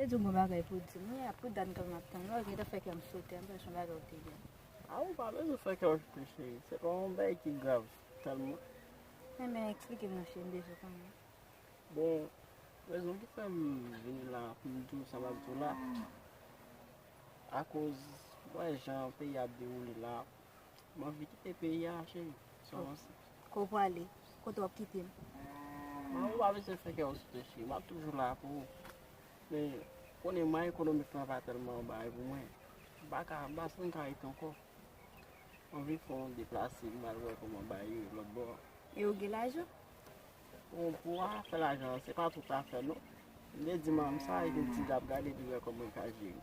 Ou di w gen bagay pou w di m wi a pou dat map tann la ou gentan fè kè m sote anpil se yon bagay ou te gen. A ou pa bezwen fè kè w sote cheri se pa yon bagay ki grav tèlman. Men men eksplike m non cheri m bezwen konnen. Bon rezon ki fè m vini la pou m di w sa map di w la akoz m wè jan peyi a ap dewoule la M anvi kite peyi a cheri. Sa w panse? Kote w prale? Kote w ap kite m? Ou pa bezwen fè kè w sote cheri. M ap toujou la pou ou. Men, ou konnen mwa ekonomik lan pa tèlman bay pou mwen. M pa ka, m pa santi m ka rete ankò. M anvi fè yon deplase m al wè kòman bagay ye lòtbò a. E ou gen lajan? Bon, pou afè lajan an, se pa tout afè non. M te di manman m sa epi m di l ap gade li wè kòman l ka jere.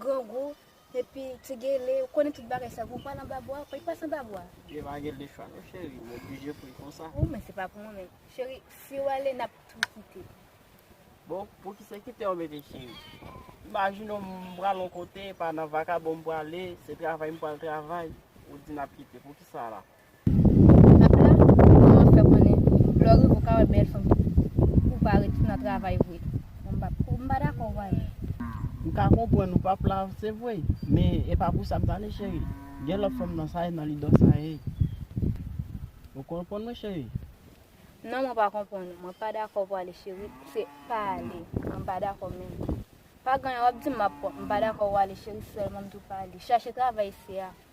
grangou, epi ti gele, ou konnen tout bagay sa, gwo pal anba bwa, pay pas anba bwa. Yo pa gen de chwa non cheri, ou oblije pou l konsa. Ou men se pa pou mwen menm. Cheri, si ou ale, n ap tou kite. Bon, pou ki se kite ou mete cheri? Imajine w m pral yon kote, e pa nan vakabon m prale, se travay m pral travay, ou di n ap kite, pou ki sa la? Pèp la kòmanse fè konnen lè w rive w ka wè bèl fanm pou w pa ret nan travay vre. Bon m pa pou m pa dakò w pa wè. M ka konprann ou pap la se vre men e pa pou sa m t ale cheri gen lòt fanm nan sa e nan lidò sa e ou konprann mwen cheri. Non mwen pa konprann ou mwen pa dakò pou ale cheri se pa ale mwen m pa dakò menm pa ganyan wap di m map pran m pa dakò ou ale cheri sèlman m di w pa ale chache travay isi a.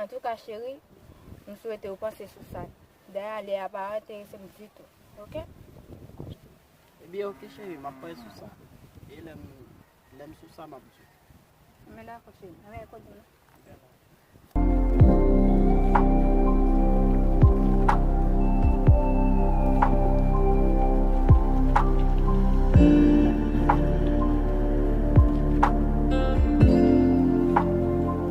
Antouka cheri, m swete ou panse sou sa. Daya lè a pa enterese m ditou. Ok? Ebyen ok cheri, m ap panse sou sa. E lè m sou sa m ap di w. Ebyen dakò cheri, m renmen koze nou.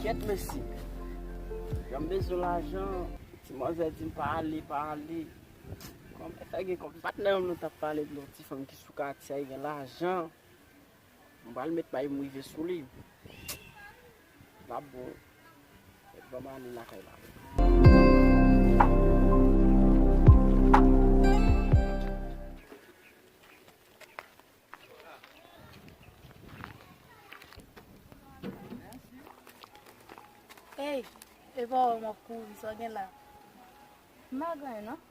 Kyèt mesi. Jan m bezwen lajan. Ti manzè di m pa ale, pa ale. Kòm e fè gen kòm. Patnè m nan t ap pale de yon ti fanm ki sou katye a ki gen lajan. M pral met may m rive sou li. Lap bon. Met banm ale lakay la. Ey, epa ou wè m ap kouri, sa w gen la? M pa gen anyen non.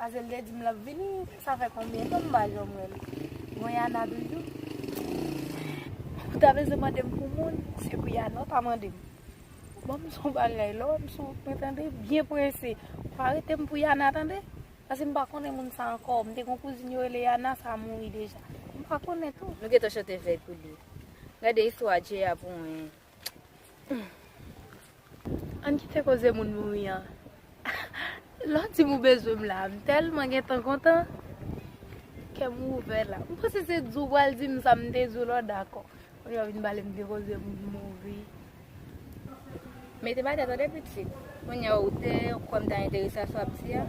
Azel te dim lap vini sa fè konbyen tan mpa janm wèl mwen yana toujou ou ta bezwen mandem pou moun se pou yana ou pa mandem banm son bagay lè wèm sou mwen tande byen prese pa retem pou yana tande paske mpa konnen moun sa ankò mte gon kouzin yo rele yana sa mouri deja mpa konnen tou. Nou gentan chante vèy pou li. Gade istwa Jay a pou mwen. Ann kite koze moun mouri an. Lè w di m ou bezwen m la a, m tèlman gentan kontan. Kè m ouvè la. M panse se di w pral di m sa m te di w la w dakò. Kounye a w vin pale m de koze moun mouri. Mete batè tande pitit. Kounye a ou te kwè m ta enterese a sa w ap di a?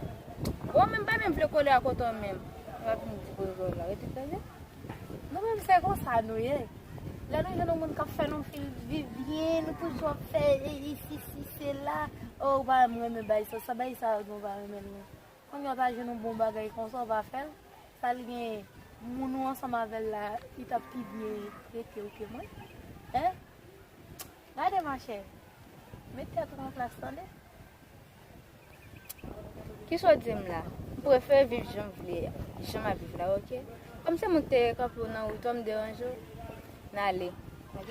Bon men m pa menm vle kole ak ou ankò menm. Epi w ap vin di koze w la. Rete tande. Nou menm se konsa nou ye lè nou jwenn yon moun kap fè nou feel viv byen nou toujou ap fè si si sela oh ou pa wèm renmen bay sa sa bay sa nou pa renmenl non kounya ou ta jwenn yon bon bagay konsa ou pa fèl sa li gen moun ou ansanm avèl la li tap pi byen tretew ke mwen hein gade machè met tèt ou an plas tande. Ki sa w di m la? M prefere viv jan m vle a, jan m ap viv la ok. Kòm se mwen ki te kanpe w nan wout ou an m deranje w, n ale ok.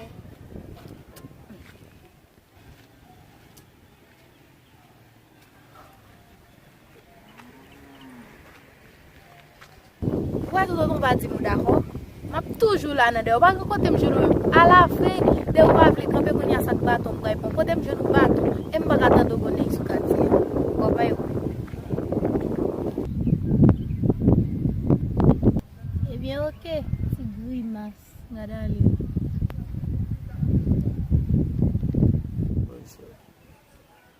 Wè Toto nou pa di mou dakò Map toujou la nan dèyè ou pa gen kotem jwenn ou menm Ala vre dèyè ou pa vle kanpe kounya sak baton m bray pran kotem jwenn ou baton em paka tande ou bon nèg sou katye a Bon bay wè Ebyen ok ti grimas gad ale Bon se.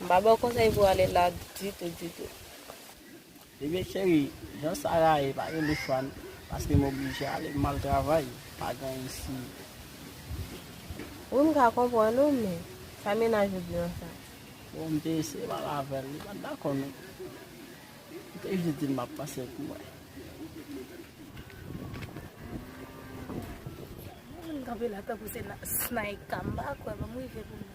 M pa baw konsèy pou ale la ditou ditou. Ebyen cheri jan sa a ye pa gen lòt chwa paske m oblije ale m al travay pa gen isi. Wi m ka konprann ou men sa mennaj ou di nan sa. Bon m te eseye pale avèl li pat dakò non. M te jis dil map pase pou mwen. Mwen menm kanpe la tankou se snaika m pa kwè banm rive pou m.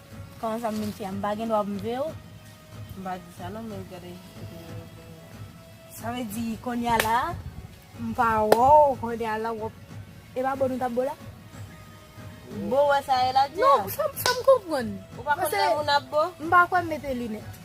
Koman sa m vin fi a? M pa gen dwa pou m veyew? M pa di sa non men gade Sa vle di konnya la m pa wèw konnya la wap E pa bo nou tap bo la? Bo wè sa e la di a? Non sa m konprann Ou pa konn lè moun ap bo? M pa kwè m mete linèt.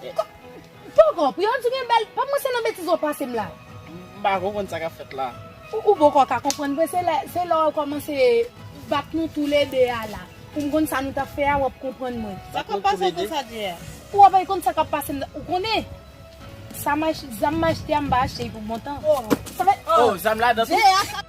Poko, pou yo di gen bèl, pa pranse nan betiz wap pasem la. M pa konprann sa kap fèt la. Ou poko ka konprann vre se lè se lè ou kòmanse bat nou tou le 2 a la pou m konn sa nou tap fè a wap konprann mwen. Sa kap pase se sa di a. Ou ap konn sa kap pasem la ou konnen sa ma zam ma achte a m pa achte li pou bon tan. Oh zam la dan tou.